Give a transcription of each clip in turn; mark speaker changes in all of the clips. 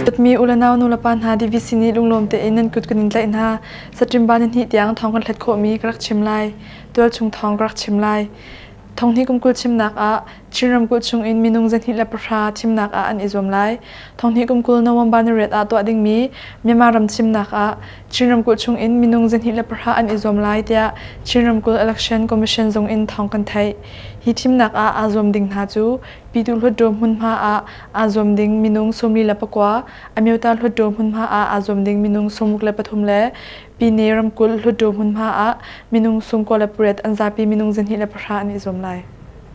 Speaker 1: Dawtmi u le nau nulepa hna DVC nih lunglawm tein nan kut kan in tlaih hna. Satrimba ni hnih tiang thawng kan hlat khawhmi ka rak chim lai. Tualchung thawng ka rak chim lai. Thonghni kum kul chimnak ah Chin ramkulh chung in minung zahnih le pahra thimnak ah an i zuam lai. Thonghni kum kul November ni riat ah tuah dingmi Myanmar ram thimnak ah Chin ramkulh chungin minung zahnih le pahra an i zuam lai tiah Chin Ramkulh Election Commission zung in thawng kan theih. Hi thimnak ah aa zuam ding hna cu Pyituh Hluttaw hmunhma ah aa zuam ding minung sawmli le pakua, Amyota Hluttaw hmunhma ah aa zuam ding minung sawmuk le pathum le Pyine ramkulh Hluttaw hmunhma ah minung sung kua le pariat an zapi minung zahnih le pahra an i zuam lai.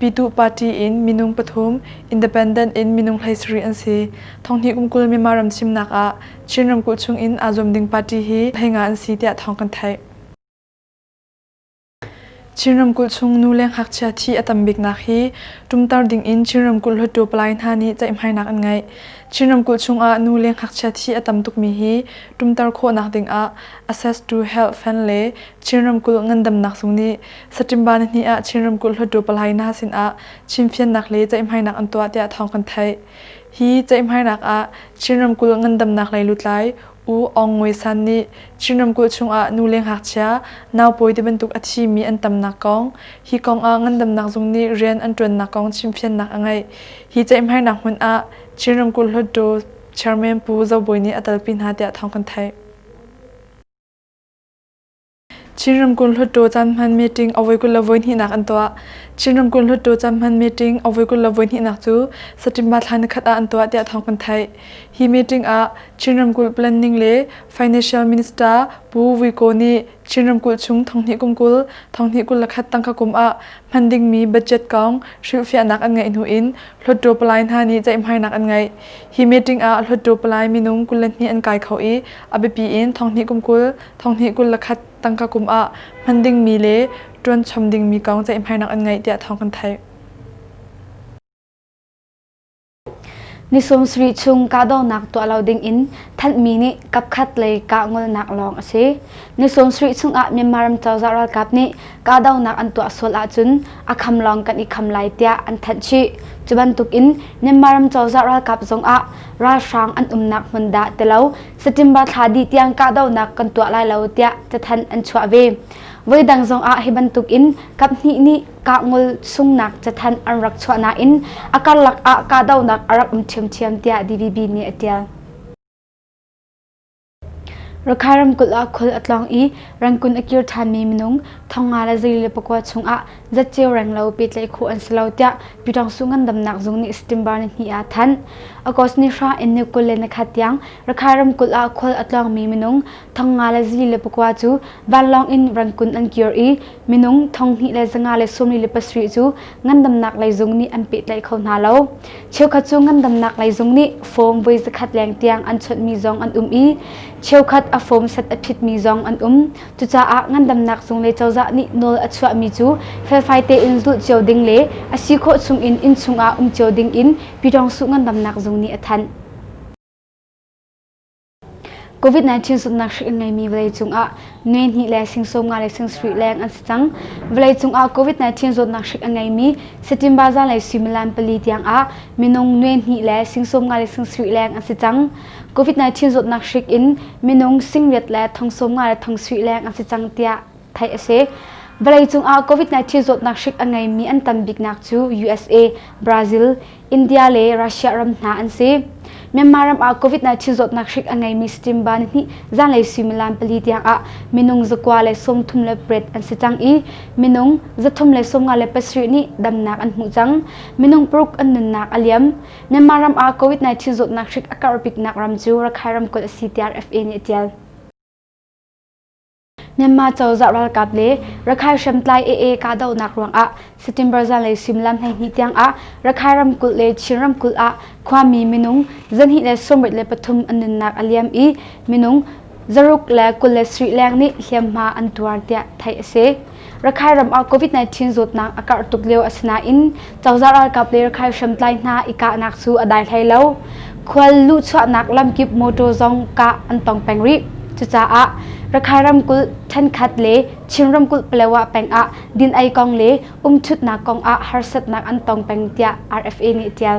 Speaker 1: Pyituh party in minung pathum, independent in minung hleisarih an si. Thonghnih kum kul Myanmar ram thimnak ah Chin ramkulh chung in aa zuam ding party hi heinga an si tiah thawng kan theih. Chin ramkulh chung nu le ngakchia thi a tam biknak hi tumtar ding in Chin ramkulh hluttaw palai hna nih ceihmainak an ngeih. Chin ramkulh chungah nu le ngakchia thi a tam tukmi hi tumtar khawhnak ding ah Access to Health Fund le Chin ramkulh ngandamnak zung nih Saṭimba nihnih ah Chin ramkulh hluttaw palaina sinah chimfiannak le ceihmainak an tuah tiah thawng kan theih. Hi ceihmainak ah Chin ramkulh ngandamnak lei lutlai U Aung Ngwe San nih Chin ramkulh chungah nu le ngakchia, naupawi tibantuk a thimi an tamnak kong, hi kong ah ngandamnak zung nih rian an ṭuannak kong chimfiannak a ngeih. Hi ceihmainak hmun ah Chin ramkulh hluttaw chairman Pu Zo Bawi nih a talpi hna tiah thawng kan theih. Chin ramkulh Hluttaw caan hman meeting a voi kul le voi hnihnak an tuah. Chin ramkulh Hluttaw caan hman meeting a voi kul le voi hnihnak cu September thla nikhat ah an tuah tiah thawng kan theih. Hi meeting ah Chin ramkulh Planning le Financial Minister Pu Vui Ko nih Chin ramkulh chung thonghnih kum kul, thonghnih kul le khat tangka kum ah hman dingmi budget kong hrilhfiahnak an ngeih hnu in Hluttaw palai hna nih ceihmainak an ngeih. Hi meeting ah Hluttaw palai minung kul le hnih an kai kho i a biapi in thonghnih kum kul, thonghnih kul le khat tangka kum ah hman dingmi le ṭuan chom dingmi kong ceihmainak an ngeih tiah thawng kan theih.
Speaker 2: Ni sawmsarih chung kahdohnak tuah lo ding in thanhmi nih kapkhat lei kah ngolnak lawng a si. Ni sawmsarih chung ah Myanmar ram cozah ralkap nih kahdohnak an tuah sual ahcun a kham lawng kan i kham lai tiah an thanh chih. Cu bantukin Myanmar ram cozah ralkap zongah ralhrang an umnak hmun dah ti lo September thla dih tiang kahdohnak kan tuah lai lo tiah cathanh an chuah ve. Voidang zongah hi bantukin kaphnih nih kah ngol sungnak cathanh an rak chuah nain a karlak ah kahdohnak a rak um ṭhiamṭhiam tiah DVB nih a ṭial. Rakha ramkulh ah khual a tlawng i rangkun a kir ṭhanmi minung thong nga le zei le pakua chungah zat ceu reng lo pehtlaih khawh an si lo tiah Pyi Ṭong Su Ngandamnak Zung nih September nihnih ah a thanh. August ni hra in ni kul le ni khat tiang Rakha ramkulh ah khual a tlawngmi minung thong nga le zei le pakua cu vanlawng in rangkun an kir i minung thong hnih le zanga le sawmli le pasarih cu ngandamnak lei zung nih an pehtlaih kho hna lo. Cheukhat cu ngandamnak lei zung nih fawm voi zakhat leng tiang an chawnhmi zong an um i cheukhat a fawm sat a phitmi zong an um. Cucaah ngandamnak zung le cozah nih nawl a chuahmi cu felfai tein zulh cio ding le a si khawh chungin inn chungah um cio dingin Pyidawngsu ngandamnak zung nih a thanh. COVID-19 zumhnak hrik in ngeimi vawleicung ah nuai hnih le sing sawm nga le sing sarih leng an si cang. Vawleicung ah COVID-19 zawtnak hrik a ngeimi Satimba zanlei suimilam pali tiangah minung nuai hnih le sing sawm nga le sing sarih leng an si cang. COVID-19 zawtnak hrik in minung sing riat le thong sawm nga le thong sarih leng an si cang tiah theih a si. Vawleicung ah COVID-19 zawtnak hrik a ngeimi an tam biknak cu USA, Brazil, India le Russia ram hna an si. Myanmar ram ah COVID-19 zawtnak hrik a ngeimi Stimba nihnih zanlei suimilam pali tiang ah minung zakua le sawmthum le pariat an si cang i minung zathum le sawmnga le pasarih nih damnak an hmuh cang. Minung paruk an nunnak a liam. Myanmar ram ah COVID-19 zawtnak hrik a karh biknak ram cu Rakhine ramkulh a si tiah FA nih a tial. Myanmar cozah ralkap le Rakhine hriamtlai AA kahdohnak ruangah September zanlei suimilam hleihnih tiangah Rakhine ramkulh le Chin ramkulh ah khuami minung zanhnih le sawmrit le pathum an nunnak a liam i minung zaruk le kul le sarih leng nih hliamhma an tuar tiah theih a si. Rakhai ram ah COVID-19 zawtnak a karh tuk lio asinain cozah ralkap le Rakhai hriamtlai hna i kahnak cu a dai hlei lo. Khual luhchuahnak lamkip motor zong kah an tong peng rih. Cucaah Rakhai ramkulh ṭhenkhat le Chin ramkulh Palawa peng ah din ei kong le umṭhutnak kong ah harsatnak an tong peng tiah RFA nih a ṭial.